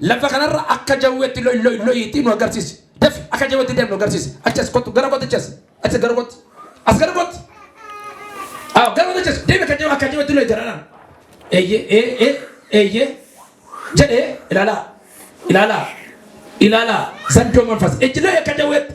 Lafa kanarra akka jawweetti loy loy loyiitii nu agarsiisi. Dafi akka jawweetti deemu nu agarsiisi. Achi as kottu gara kootti achi as. Achi gara kootti. As gara kootti. Awo gara kootti achi as. Deemi akka jawwee akka jawweetti loyi jaraanaan. Eeyyee ee ee eeyyee jedhee ilaalaa ilaalaa ilaalaa zandoo manfas ejjiloo akka jawweetti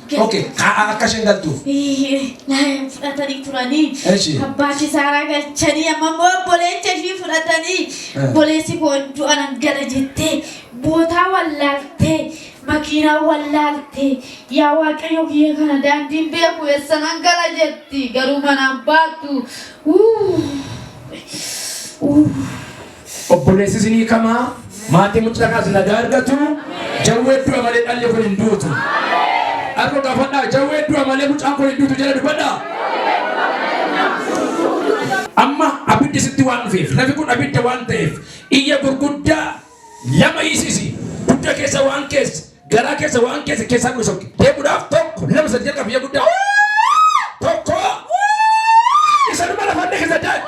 Ok, kaa'aa akka isheen galtuuf. Laayeen fudhatanii turanii Eshi. abbaa kisaaraa galchanii amma immoo obboleecha ishii fudhatanii Eh. obboleessi koo du'a nan gala jettee bootaa wallaaltee makiinaa wallaaltee yaa waaqayyo kiyya kana daandiin beeku eessa nan gala jetti garuu manaan baatu. Uuu. Uuu. Obboleessi isinii kamaa maatii mucaa kaas nagaa argatu jawwee du'a malee dhalli kun hin duutu. Argo gaafadhaa jawwee du'a malee mucaan kun hin duutu jala dubbadhaa. Amma abiddi sitti waan dhufeef lafi kun abidda waan ta'eef iyya gurguddaa lama hiisisi dugda keessa waan keessa garaa keessa waan keessa keessaa dhufe sokke deemuudhaaf tokko lama sadi jalqabu iyya guddaa tokko isa dhuma lafa adda keessa daa'e.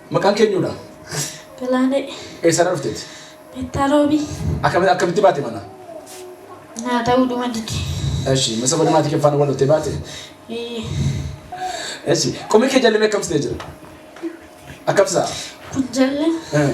Maqaan kee eenyuu dha? Galaanee. Eessa irraa dhufte ati? Meettaa Roobii. Akkami akkamitti baate manaa? Naa ta'uu dhuma dide. Eshi masa bada maatii kee faana wal lottee baate? Ee. Eshi qomee kee jalli mee akkamsi ta'ee jira? Akkamsaa? Kun jalla Eh.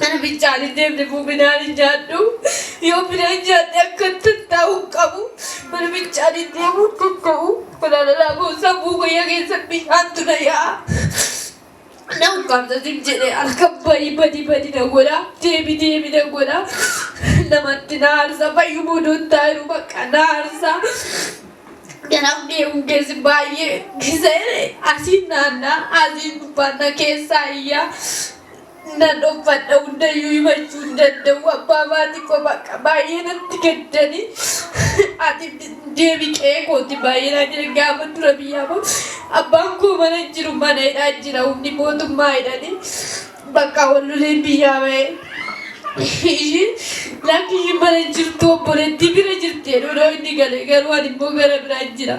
Kana bichaan hin deemne muminaan hin nyaadhu. Yoo bina hin nyaadhe akka tattaa'u hin qabu. Mana bichaan hin deemu hin danda'u. Walaalalaa koo sammuu guyyaa keessa bishaantu na yaa'a. Na ukkaamsa sin jedhe akka badi badi badi na godha. Deemi deemi na godha. Namatti na aarsa fayyumuu duun taayiru bakka na aarsa. Kanaaf deemuun keessi baay'ee gisa'e asiin naannaa asiin gubbaannaa keessaa iyyaa. Nan uffadha hundayyuu himachuu hin danda'u abbaa maatii koo bakka baay'ee natti gaddani ati deebi qe'ee kooti baay'ee naa jedhan gaafa dura biyyaa koo abbaan koo mana hin jiru mana hidhaa jira humni mootummaa hidhani bakka walloleen biyyaa ba'e ishiin lakki ishiin mana hin jirtu obboleettii bira jirti jedhu inni gale garuu ani immoo gara biraa jira.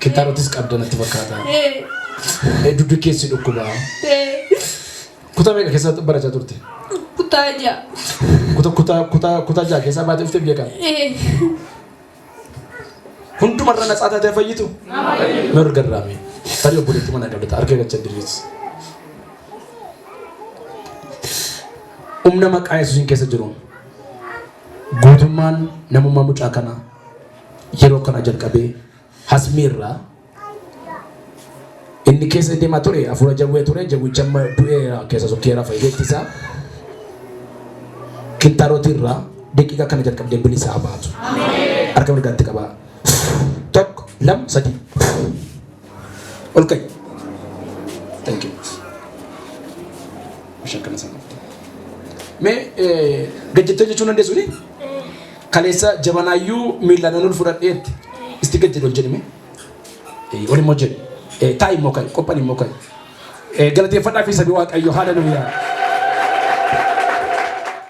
Kintarotis qabda natti fakkaata. Ee dugda keessi dhukkuba. Kutaa meeqa keessa barachaa turte? Kutaa ja'a. Kuta kuta kuta kuta ja'a keessa baatee dhuftee biyya kana. Hundumarra natsaa taatee fayyitu? Mee ol garraami. Tarii obboleetti mana qabda harka irra chaddirris. Humna maqaa Yesuusiin keessa jiru guutummaan namummaa mucaa kana yeroo kana jalqabee Hasmii irraa Inni keessa deemaa ture hafuura jawwee ture jawwicha amma du'eera keessa sokkee rafa ijeetti isaa kittaarotii irraa daqiiqaa kana jalqabdee bilisaa baatu. Harka mirgaatti qabaa. Tokko lama sadii. Ol ka'i. Thank you. Bishaan kana sana. Mee gajjattee jechuun dandeessu ni? Kaleessa jabanaayyuu miillaan ol fudhadheetti isti gad jedhu ol jedhime. Ol immoo jedhu. Taa'i immoo ka'i. Qophan immoo ka'i. Galateeffadhaa fi sabi waaqayyo haala nuyaa.